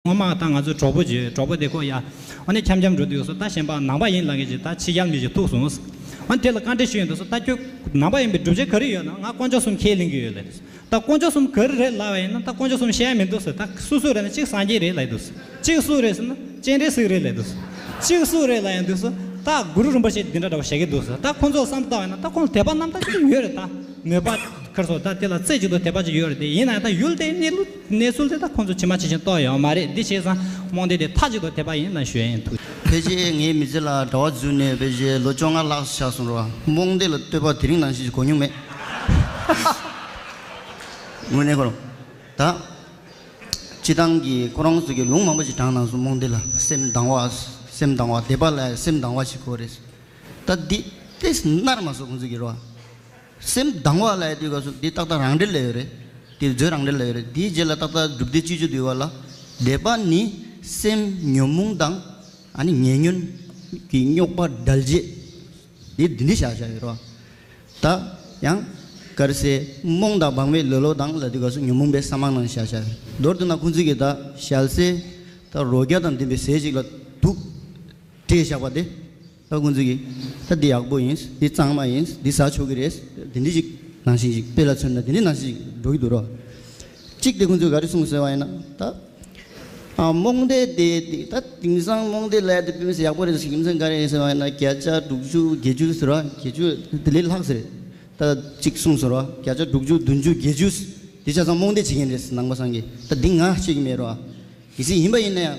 སྔོན་མ་ད་ང་ཚོའི་གྲོགས་པོ་བརྗོད་གྲོགས་པོ་དེ་ཁོ་ཡ། འོ་ནི་འཁྱམ་འཁྱམ་འགྲོ་འདུག་སོ་ད་གཞན་པ་ནང་པ་ཡིན་ལ་ངེས་ཀྱི་ད་ཕྱི་རྒྱལ་མི་ཞིག་ཐུག་སོང། འོ་ནི་དེ་ལ་བཀའ་འདྲི་ཞུ་ཡི་འདུག་སོ་ད་ཁྱོད་ནང་པ་ཡིན་པའི་སྒྲུབ་བྱེད་ག་རེ་ཡོད་ན་ང་དཀོན་མཆོག་གསུམ་ཁས་ལེན་གྱི་ཡོད་ལ་འདུག་ད་དཀོན་མཆོག་གསུམ་ག་རེ་རེད་ལབ་པ་ཡིན་ན་ད་དཀོན་མཆོག་གསུམ་བཤད་ཡ་མི་འདུག་སོ་ད་སུ་སུ་རེད་ན་གཅིག་སངས་རྒྱས་རེད་ལ་ཡི་འདུག་སོ་གཅིག་སུ་རེད་ཟེར་ན་སྤྱན་རས་གཟིགས་རེད་ལ་ཡི་འདུག་སོ་གཅིག་སུ་རེད་ལ་ཡི་འདུག་སོ་ད་གུ་རུ་རིན་པོ་ཆེ་འདི་འདྲ་འདྲ་བ་བཤད་ཀྱི་འདུག་སོ་ད་ཁོང་ཚོ་བསམ་བཏང་བ་ཡིན་ན་ད་ཁོང་ཚོ་དད་པ་རྣམ་དག་ཅིག་ཏུ་ཡོད་རེད་ད་མོས་པ་ཁར་སོ་ད་དེ་ལ་རྩེ་གཅིག་ཏུ་དད་པ་ཅིག་ཡོད་རེད་དེ་ཡིན་ན་ཡང་ད་ཡུལ་དེའི་གནས་ལུགས། གནས་གསུམ་ཚེ་ད་ཁོང་ཚོ་ཇི་མ་ཇི་བཞིན་རྟོགས་ཡོད་མ་རེད་འདི་བྱས་ཙང་རྨོངས་དད་དེ་མཐའ་གཅིག་ཏུ་དེད་པ་ཡིན་ལ་ཞུ་ཡིན་ཐུགས། ཕལ་ཆེར་ངའི་མི་ཚེ་ལ་དྲ་བ་བརྫུས་ནས་ཕལ་ཆེར་ལོ་བཅོ་ལྔ་ལྷག་ཆགས་སོང་རོགས་རྨོངས་དད་ལ་ལྟོས་པ་དེ་རིང་ནང་བཞིན་གྱི་གོ་མྱོང་མེད། དངོས་གནས་ཁོ་ད་སྤྱི་བཏང་གི་ཁོ་རང་ཚོ་གི་ལུང་མང་པོ་ཞིག་དྲངས་གནང་སོང་རྨོངས་དད་ལ་སེམས་དང་བ་སེམས་དང་བ་དད་པ་ལ་སེམས་དང་བ་ཞིག་གོ་རེད། ད་འདི་ལྟས་སུ་མནར་མ་སོང་ཁོང་ཚོ་གི་རོགས། སེམས་སྡང་བ་ལ་ཡོད་དུས་ཀ་སུ་འདི་ཏག་ཏག་རང་འགྲེལ་ལ་ཡོད་རེད། དེ་མཛོད་རང་འགྲེལ་ལ་ཡོད་རེད་དེའི་རྗེས་ལ་ཏག་ཏག་སྒྲུབ་སྡེ་བཅུ་བཅུ་འདུས་བ་ལ། སྡེ་པ་ནི། སེམས་ཉོན་མོངས་དང། ཨ་ནི་ཉེ་ཉོན། གྱི་རྙོག་པ་བསྒྲལ་བྱེད། འདི་འདི་འདི་བཞག་བཞག་ཡོད་རོ། ད། ཡང། དཀར་སེར། རྨོངས་དང་སྦང་བའི་ལོ་ལོ་དང་ལ་དུས་ཀ་སུ་ཉོན་མོངས་པའི་ས་མང་ནང་བཞག་བཞག་ཡོད། མདོར་བསྡུ་ན་ཁུང་ཙི་གི་ད་ཞལ་ཟས། ད་རོ་བརྒྱ་དང་ལྡན་པའི་ཟས་ཅིག་ལ་དུག། སྤྲད་བཞག་པ་དེ། ཨ་ཁུ་འཛིན་གྱིས་ད་འདི་ཡག་པོ་ཡིན་འདི་གཙང་མ་ཡིན་འདི་ཟ་ཆོག་གི་རེད་དེ་འདྲི་ཞིག་ནང་བཞིན་ཞིག་དཔེ་ལ་མཚོན་ན་དེ་འདྲི་ནང་བཞིན་ཞིག་འགྲོ་གི་འདུག་རོགས་གཅིག་དེ་ཁོ་ཚོས་ག་རེ་གསུངས་ཟེར་བ་ཡིན་ན་ད། རྨོངས་དད་དེ་ད་དེང་སང་རྨོངས་དད་ལས་དེ་ཕེབས་ན་ཡག་པོ་རེད་ཟེར་གི་མཚོན་ག་རེ་ཡིན་ཟེར་བ་ཡིན་ན་བརྒྱ་ཆ་དྲུག་ཅུ་བརྒྱད་ཅུ་ཟེར་བ་བརྒྱད་ཅུ་དེ་ལས་ལྷག་ཟེར་རེད་ད་གཅིག་གསུངས་ཟེར་བ་བརྒྱ་ཆ་དྲུག་ཅུ་བདུན་ཅུ་བརྒྱད་ཅུ་དེ་ཆ་ཚང་རྨོངས་དད་བྱེད་མཁན་རེད་ཟེར་ནང་པ་སངས་རྒྱས་ད་འདི་ང་བཤད་ཀྱི་མེད་རོགས་གལ་སྲིད་ཡིན་པ་ཡིན་ན་ཡང།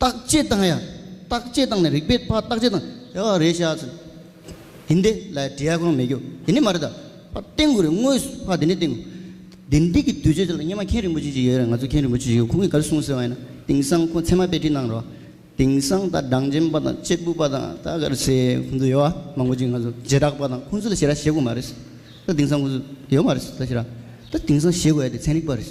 བརྟག་དཔྱད་བཏང་ཡ། བརྟག་དཔྱད་བཏང་ནས་རིག་པའི་ཕ་བརྟག་དཔྱད་བཏང། ཡ་བ་རེད་བྱ། ཡིན་དེ། ལའི་འབྲི་ཡ་གང་མེད་རྒྱུ། དེ་ནི་མ་རེད་ད། ཕ་བསྟེན་དགོས་རེད་དངོས་སུ་ཕ་དེ་ནི་བསྟེན་དགོས། དེ་འདི་གི་དུས་ཚོད་དེ་ལ་སྙེ་མ་མཁན་རིན་པོ་ཆེ་ཞིག་ཡོད་རེད་ང་ཚོ་མཁན་རིན་པོ་ཆེ་ཞིག་ཁོང་གིས་ག་རེ་གསུང་ཟེར་བ་ཡིན་ན་དེང་སང་ཁོང་ཚད་མ་དཔེ་ཁྲིད་གནང་རོགས། དེང་སང་ད་སྦྲང་འཇེམ་པ་དང་གཅེར་བུ་པ་དང་ད་ག་རེ་ཟེར་ཁོང་ཚོ་ཡོད་བ་མང་པོ་ཅིག་ང་ཚོ་རྗེས་དྲག་པ་དང་ཁོང་ཚོ་ལ་བྱེད་ར་བྱེད་དགོས་མ་རེད། ད་དེང་སང་ཁོང་ཚོ་ཡོད་མ་རེད། ད་དེང་སང་བྱེད་དགོས་ཡ་དེ་ཚན་རིག་པ་རེད།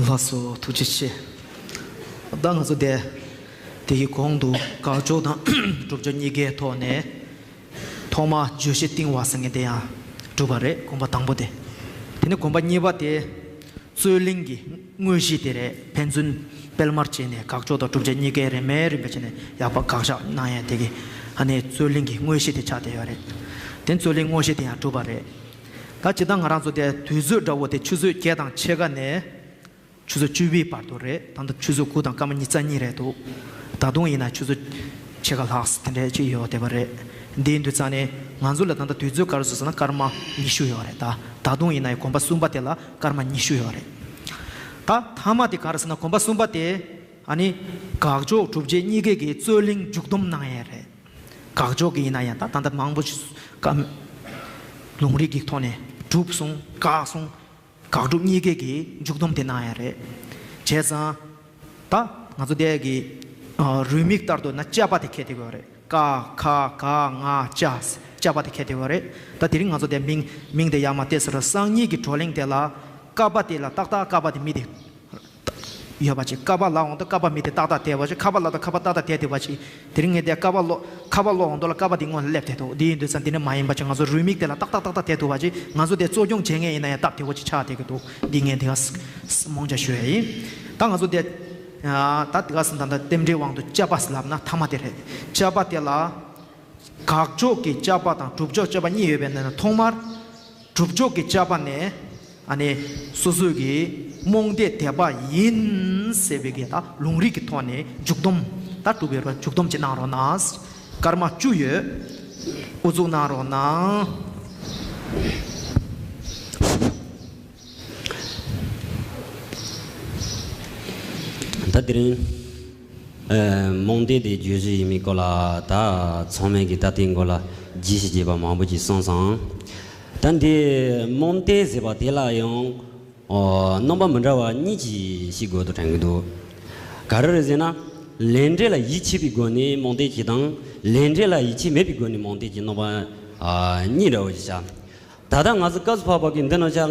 ལགས་སོ་ཐུགས་རྗེ་ཆེ། ད་ང་ཚོ་བསྡད། དེ་གི་གོང་དུ་དགག་སྦྱོར་དང་སྒྲུབ་སྦྱོར་གཉིས་ཀའི་ཐོག་ནས། ཐོག་མ་བརྗོད་གཞི་རྟིང་བ་ཟེར་མཁན་དེ་ཡང་གྲུབ་པ་རེད་གོམས་པ་དང་པོ་དེ། དེ་ནས་གོམས་པ་གཉིས་པ་དེ། རྩོད་གླེང་གི་དངོས་གཞི་དེ་རེད་ཕན་ཚུན་སྤེལ་མར་བྱས་ནས་དགག་སྦྱོར་དང་སྒྲུབ་སྦྱོར་གཉིས་ཀའི་རེ་མེད་རིན་པོ་ཆེ་ནས་ཡག་པ་དགག་བཞག་གནང་ཡ་དེ་གི་ཧ་ནས་རྩོད་གླེང་གི་དངོས་གཞི་དེ་ཆགས་བསྡད་ཡོད་རེད། དེ་རྩོད་གླེང་དངོས་གཞི་དེ་ཡང་གྲུབ་པ་རེད། ད་ཇི་ལྟར་ང་རང་ཚོ་དེ་དུས་ཚོད་འདྲ་བོ་དེ་ཆུ་ཚོད་བརྒྱད་དང་ཕྱེད་ཀ་ནས་ཆུ་ཚོད་བཅུ་བའི་བར་དུ་རེད་ད་ལྟ་ཆུ་ཚོད་དགུ་དང་སྐར་མ་གཉིས་རྩ་གཉིས་རེད་འདུག་ད་དུང་ཡིན་ན་ཆུ་ཚོད་ཕྱེད་ཀ་ལྷག་དེ་འདྲ་ཅིག་ཡོད་བསྡད་པ་རེད་འདིའི་འདུས་རྩ་ནི་ང་ཚོ་ལ་ད་ལྟ་དུས་ཚོད་སྐར་ཚོད་ཟེར་ན་སྐར་མ་ཉི་ཤུ་ཡོད་རེད་ད་ད་དུང་ཡིན་ན་གོམ་པ་གསུམ་པ་དེ་ལ་སྐར་མ་ཉི་ཤུ་ཡོད་རེད་ད་ཐ་མ་དེ་ག་རེ་ཟེར་ན་གོམ་པ་གསུམ་པ་དེ་ཨ་ནི་དགག་ཕྱོགས་གྲུབ་རྗེས་གཉིས་ཀས་ཀྱི་རྩོད་གླེང་མཇུག་བསྡོམས་གནང་ཡས་རེད། དགག་འཇོག་གི་ཡིན་ན་ཡང་ད་ལྟ་མང་པོ་ཞིག་བཀའ་མོས་ལུང་རིགས་ཀྱི་ཐོག་ནས་གྲུབ་གསུང་དགག་གསུང་དགག་སྒྲུབ་གཉིས་ཀའི་གི་མཇུག་སྡོམ་དེ་གནང་ཡ་རེད། བྱས་ཙང་ད་ང་ཚོ་འདས་ཀྱི་རུས་མིག་ལྟར་དུ་ན་དཔྱད་པ་དེ་གལ་ཏེ་གོ་རེད། ཀ་ཁ་ག་ང་ཅ་དཔྱད་པ་དེ་གལ་ཏེ་གོ་རེད། ད་དེ་རིང་ང་ཚོ་འདས་མིང་དེ་ཡར་མ་བཏེགས་ཟེར་བ་སང་ཉིད་ཀྱི་བགྲོ་གླེང་དེ་ལ་བཀའ་པ་དེ་ལ་ཏག་ཏག་བཀའ་པ་དེ་མི་དེ། ཡོད་པ་ཅིག་ཀ་བ་ལ་འོང་དུ་ཀ་བ་མི་དེ་ཏག་ཏག་དེད་པ་ཅིག་ཁ་བ་ལ་དང་ཁ་བ་ཏག་ཏག་དེད་དེད་པ་ཅིག་དེ་རིང་ངས་དེ་ཀ་བ་ལོ། ཁ་བ་ལོ་འོང་དུ་ལ་ཀ་བ་དེ་སྔོན་ལ་སླེབས་དེད་དོ་དེ་ཡིན་དུས་སམ་དེ་ནི་མ་ཡིན་པ་ཅིག་ང་ཚོ་རུས་མིག་དེ་ལ་ཏག་ཏག་ཏག་ཏག་དེད་ཐུབ་པ་ཅིག་ང་ཚོ་དེ་གཙོ་སྐྱོང་བྱེད་མཁན་ཡིན་ན་ཡང་སྟབས་བདེ་བོ་ཅིག་ཆགས་དེད་ཀྱི་འདུག་འདི་ངས་དེ་ག་རྨོངས་ཆ་ཞུ་ཡ་ཡིན། ད་ང་ཚོ་དེ། ད་དེ་ག་ཟིན་ད་ད་རྟེན་འབྲེལ་དབང་དུ་དཔྱད་པ་ལབ་ན་ཐ་མ་དེ་རེད་དཔྱད་པ་དེ་ལ། དགག་ཕྱོགས་ཀྱི་དཔྱད་པ་དང་གྲུབ་ཕྱོགས་དཔྱད་པ་གཉིས་ཡོད་པའི་ནང་ནས་ཐོག་མར། གྲུབ་མཆོག་གི་བཅའ་བ་ནི། ཨ་ནི། སོ་སོའི་གིས་རྨོངས་དད་དད་པ་ཡིན། ཟེར་བའི་གིས་དང་ལུང་རིགས་ཀྱི་ཐོག་ནས་འཇུག་སྡོམ། ད་གྲུབ་པའི་རོ་འཇུག་སྡོམ་གྱི་གནང་རོགས་གནང། སྐར་མ་བཅུ་ཡོད། དབུ་གཙུག་གནང་རོགས་གནང། ད་དེ་རིང། རྨོངས་དད་དེ་བརྗོད་གཞི་ཡིན་མིན་སྐོར་ལ་ད་ཚང་མས་ཀྱི་ད་ལྟའི་མགོ་ལ་རྒྱས་ཤིག་རྒྱས་པ་མང་པོ་ཅིག་གསུངས་སོང། ད་འདིར་རྨོངས་དད་ཟེར་བ་དེ་ལ་ཡང། རྣམ་པ་མི་འདྲ་བ་གཉིས་ཀྱིས་ཤིག་དགོས་དོ་དྲན་གྱི་འདུག་ག་རེ་རེད་ཟེར་ན། ལས་འབྲས་ལ་ཡིད་ཆེས་པའི་སྒོ་ནས་རྨོངས་དད་ཀྱི་དང། ལས་འབྲས་ལ་ཡིད་ཆེས་མེད་པའི་སྒོ་ནས་རྨོངས་དད་ཀྱི་རྣམ་པ་གཉིས་འདྲ་བོ་ཞིག་ཆགས། ད་ལྟ་ང་ཚོ་སྐབས་སུ་བབ་བབ་ཀྱིས་འདི་རྣམས་ཆ།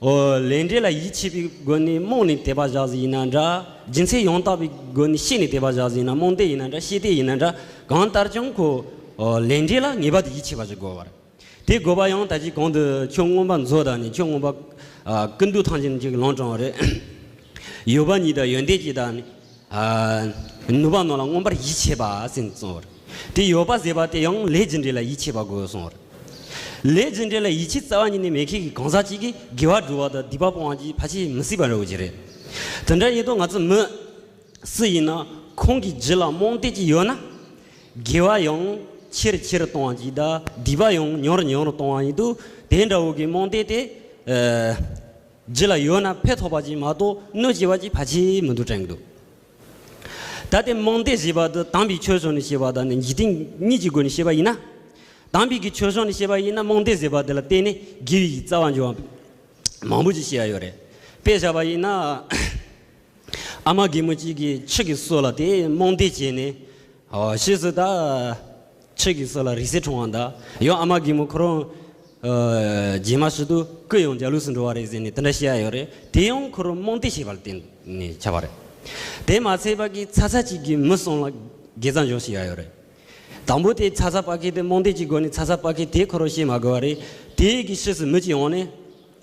ཨོ། ལས་འབྲས་ལ་ཡིད་ཆེས་པའི་སྒོ་ནས་རྨོངས་ནས་དད་པ་བཞག་ཟིན་ཡིན་ན་འདྲ། སྦྱིན་སྲེག་ཡང་དག་པའི་སྒོ་ནས་ཤེས་ནས་དད་པ་བཞག་ཟིན་ཡིན་ན་རྨོངས་དད་ཡིན་ན་འདྲ་ཤེས་དད་ཡིན་ན་འདྲ་གང་ལྟར་ཀྱང་ཁོ། ཨོ། ལས་འབྲས་ལ་ངེས་པར་དུ་ཡིད་ཆེས་པ་ཞིག་དགོས་པར། དེ་དགོས་པ་ཡང་ད་ཅིའི་གོང་དུ་ཆོས་མངོན་པ་མཛོད་དང་ནི་ཆོས་མངོན་པ། ཀུན་འདུས་ཐང་ཅན་གྱི་ལོང་བཀྲོངས་རེད། ཡོད་པ་ཉིད་དང་ཡོན་ཏན་གྱི་དང་ནི། ནུབ་པ་ནོར་ལ་མངོན་པར་ཡིད་ཆེས་པ་ཟིན་གསུང་བར། དེ་ཡོད་པ་ཟེར་བ་དེ་ཡང་ལས་ཇི་འདྲའི་ལ་ཡིད་ཆེས་པ་དགོས་གསུང་བར། ལས་ཇི་འདྲའི་ལ་ཡིད་ཆེས་རྩ་བ་ཉིད་ནས་མེད་མཁན་གྱི་གང་ཟག་ཅིག་གིས་དགེ་བ་སྒྲུབ་བ་དང་སྡིག་པ་སྤོང་བ་གྱིས་ཕ་ཆེ་མི་སྲིད་པ་རེད་བ་ཅི་རེད། དེ་འདྲ་ཡིན་དུས་ང་ཚོ་མི། སུ་ཡིན་ན་ཁོང་གི་རྗེས་ལ་རྨོངས་དད་ཅིག་ཡོད་ན། དགེ་བ་ཡང་ཆེར་ཆེར་གཏོང་བ་གྱིས་དང་སྡིག་པ་ཡང་མྱུར་མྱུར་གཏོང་བ་ཡིན་དུས་དེ་འདྲ་བོ་གི་རྨོངས་དད་དེ། རྗེས་ལ་ཡོད་ན་ཕས་ཐོགས་པ་གྱིས་མ་གཏོགས་གནོད་བྱེད་པ་གྱིས་ཕ་གྱིས་མི་འདུག་དྲན་གྱི་འདུག། ད་ལྟའི་རྨོངས་དད་ཞེས་པ་འདི་དམ་པའི་ཆོས་སོགས་ནས་བཤད་པ་དག་ནི་འཇིག་རྟེན་གཉིས་ཀྱི་སྒོ་ནས་བཤད་པ་ཡིན་ན། དམ་པའི་གི་ཆོས་སོགས་ནས་བཤད་པ་ཡིན་ན་རྨོངས་དད་ཟེར་བ་འདི་ལ་བརྟེན་ནས་དགེ་བའི་གི་རྩ་བ་འཇོག་བ་མང་པོ་ཅིག་བཤད་ཡ་ཡོད་རེད། དཔེ་བཞག་པ་ཡིན་ན། ཨ་མ་རྒན་མོ་གཅིག་གིས་ཕྱི་གི་སྲོལ་ལ་དེ་རྨོངས་དད་བྱས་ནས། ཧོ་ཕྱིས་སུ་ད། ཆོས་ཀྱི་སྲོལ་ལ་རིགས་སྲས་འཁྲུངས་བ་འདྲ། ཡང་ཨ་མ་རྒན་མོ་ཁོ་རང། རྗེས་མ་ཞུ་དུ་ཀུན་ཡང་འཇའ་ལུས་སུ་འགྲོ་བ་རེད་ཟེར་ནས་དེ་འདྲ་བཤད་ཡ་ཡོད་རེད་དེ་ཡང་ཁོ་རང་རྨོངས་དད་བྱས་པ་ལ་བརྟེན་ནས་ཆགས་པ་རེད། དེ་མ་ཚད་པ་ཀི་ཚ་ཚ་གཅིག་གིས་མི་གསུམ་ལ་དགེ་རྩ་འཇོག་བྱས་ཡ་ཡོད་རེད། དང་པོ་དེ་ཚ་ཚ་པ་ཁེ་དེ་རྨོངས་དད་ཀྱི་སྒོ་ནས་ཚ་ཚ་པ་ཁེ་དེ་ཁོ་རང་ཤེས་མ་དགོས་བ་རེད་དེ་ཡིད་ཀྱི་ཤེས་སུ་མི་གཅིག་འོང་ནས།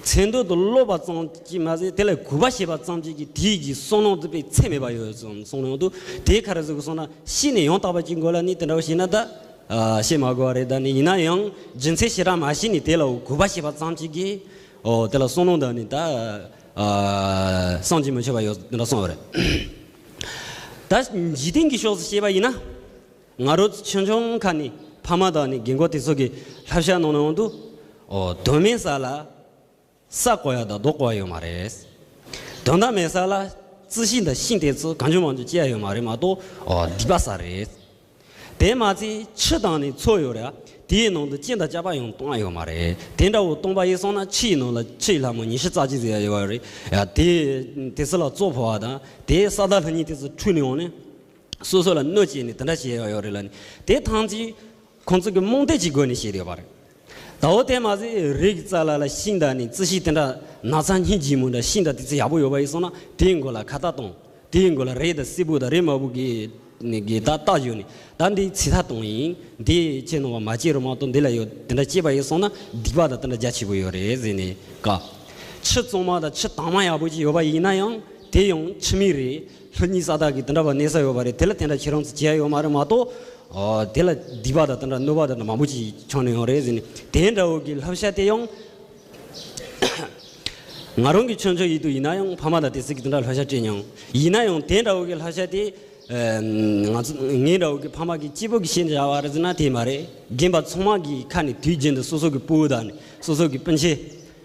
མཚན་དོན་དུ་སློབ་པ་ཙམ་གྱིས་མ་ཟད་དེ་ལ་གུས་པ་བྱེད་པ་ཙམ་གྱིས་ཀྱི་དེའི་གྱི་སོ་ནང་དུ་པའི་ཚད་མེད་པ་ཡོད་ཙམ་གསུངས་ནའང་འདུག་དེའི་ཁར་གཟུགས་སོགས་ན་ཤི་ནས་ཡང་དག་པར་སྐྱེ་དགོས་ལ་ནི་དེ་འདྲ་བ་ཤེས་ན་ད་བཤད་མ་དགོས་བ་རེད་ད་ནི་ཡིན་ན་ཡང་རྒྱུ་མཚན་ཞེ་དྲག་མ་ཤེས་ནས་དེ་ལ་གུས་པ་བྱེད་པ་ཙམ་གྱིས་ཀྱི་དེ་ལ་སོ་ནང་དུ་ནི་ད་སངས་རྒྱས་མི་ཆོག་པ་ཡོད་ཅེས་དེ་འདྲ་གསུངས་བ་རེད། ད་འཇིག་རྟེན་གྱི་ཕྱོགས་སུ་བཤད་པ་ཡིན་ན། ང་རོ་ཆེ་ཆུང་ཁག་ནི་ཕ་མ་དང་ནི་རྒན་རྒོན་དེ་ཚོ་གི་ལྷ་བཤའ་གནང་ནང་དུ་དོན་མེད་ས་ལ་ས་བརྐོ་ཡ་དང་རྡོ་བརྐོ་ཡ་ཡོད་མ་རེད། དོན་དག་མེད་ས་ལ་རྩི་ཤིང་དང་ཤིང་དེ་ཚོ་གང་བྱུང་མང་བྱུང་སྐྱེ་ཡ་ཡོད་མ་རེད་མ་གཏོགས་སྡིག་པ་ས་རེད། དེ་མ་ཚད་ཕྱི་དང་ནི་མཚོ་ཡོད་ར་དེ་ཡི་ནང་དུ་སྐྱེ་དང་བཅའ་པ་ཡང་སྟོང་ཡ་ཡོད་མ་རེད་དེ་འདྲ་བོ་སྟོང་པ་ཡིན་སོང་ན་ཕྱི་ཡི་ནང་ལ་ཕྱི་ཡི་ལྷ་མོ་ཉི་ཤུ་རྩ་གཅིག་ཟེར་ཡ་ཡོད་པ་རེད་ཡ་དེ་དེ་ཚོ་ལ་བཙོ་ཕོ་བ་དང་དེའི་ས་བདག་ལྷ་གཉིས་དེ་ཚོ་འཁྲུས་ནས་འོང་ནས། སོ་སོ་ལ་གནོད་བྱེད་ནི་དེ་འདྲ་བྱེད་ཡག་ཡོད་རེད་ལ་ནི་དེ་ཐང་ཅིག་ཁོང་ཚོ་གི་རྨོངས་དད་ཀྱི་སྒོ་ནས་བྱེད་ཡོད་པ་རེད་ད་འོ་དེ་མ་ཟད་རིག་རྩ་ལ་ལ་ཤིང་རྟ་ནི་རྩི་ཤིང་དེ་འདྲ་ན་ཚ་སྙིགས་སྦྱིན་མོ་འདྲ་ཤིང་རྟ་དེ་ཚོ་ཡག་པོ་ཡོད་པ་ཡིན་སོང་ན་དེའི་མགོ་ལ་ཁ་བཏགས་གཏོང་དེའི་མགོ་ལ་རེ་དང་སིལ་བུ་དང་རེ་མ་བུ་གི་ནི་གི་ད་བཏགས་བྱོས་ནི་ད་འདི་ཚི་ད་གཏོང་ཡིན་འདི་ཅེས་ནོར་བ་མ་བྱེད་རོགས་མ་གཏོང་འདི་ལ་ཡོད་དེ་འདྲ་བྱེད་པ་ཡིན་སོང་ན་སྡིག་པ་དང་དེ་འདྲ་རྒྱ་ཆེ་པོ་ཡོད་རེད་ཟེར་ནས་དགའ། ཆུ་བཙོང་མ་དང་ཆུ་དྭངས་མ་ཡག་པོ་ཅིག་ཡོད་པ་ཡིན་ན་ཡང་དེ་ཡང་ཁྱི་མི་རེད། ལྷོད་གཉིས་ས་དག་གིས་དེ་འདྲ་བ་གནས་ས་ཡོད་པ་རེད་དེ་ལ་དེ་འདྲ་ཁྱེད་རང་ཚོས་བྱས་ཡོད་མ་རེད་མ་གཏོགས། དེ་ལ་སྡིག་པ་དང་དེ་འདྲ་གནོད་པ་དེ་འདྲ་མང་པོ་ཞིག་འཁྱོངས་ནས་ཡོང་རེད་ཟེར་ནས་དེ་འདྲ་བོ་གི་ལྷབ་ཤ་དེ་ཡང། ང་རང་གི་ཆོས་མཆོག་ཡིད་དུ་ཡིན་ན་ཡང་ཕ་མ་དང་དེ་སྲིད་ཀྱི་དེ་འདྲ་ལྷོད་ཤ་སྤྲད་མྱོང། ཡིན་ན་ཡང་དེ་འདྲ་བོ་གི་ལྷབ་ཤ་དེ། ང་ཚོ་ངའི་འདྲ་བོ་གི་ཕ་མ་གི་སྐྱེས་བུ་གི་ཤེས་བྱ་བ་རེད་ཟེར་ན་དེ་མ་རེད་རྒན་པ་ཚང་མ་གི་ཁ་ནས་དུས་རྒྱུན་དུ་སོ་སོ་གི་སྤུ་བོ་དང་སོ་སོ་གི་སྤུན་མཆེད།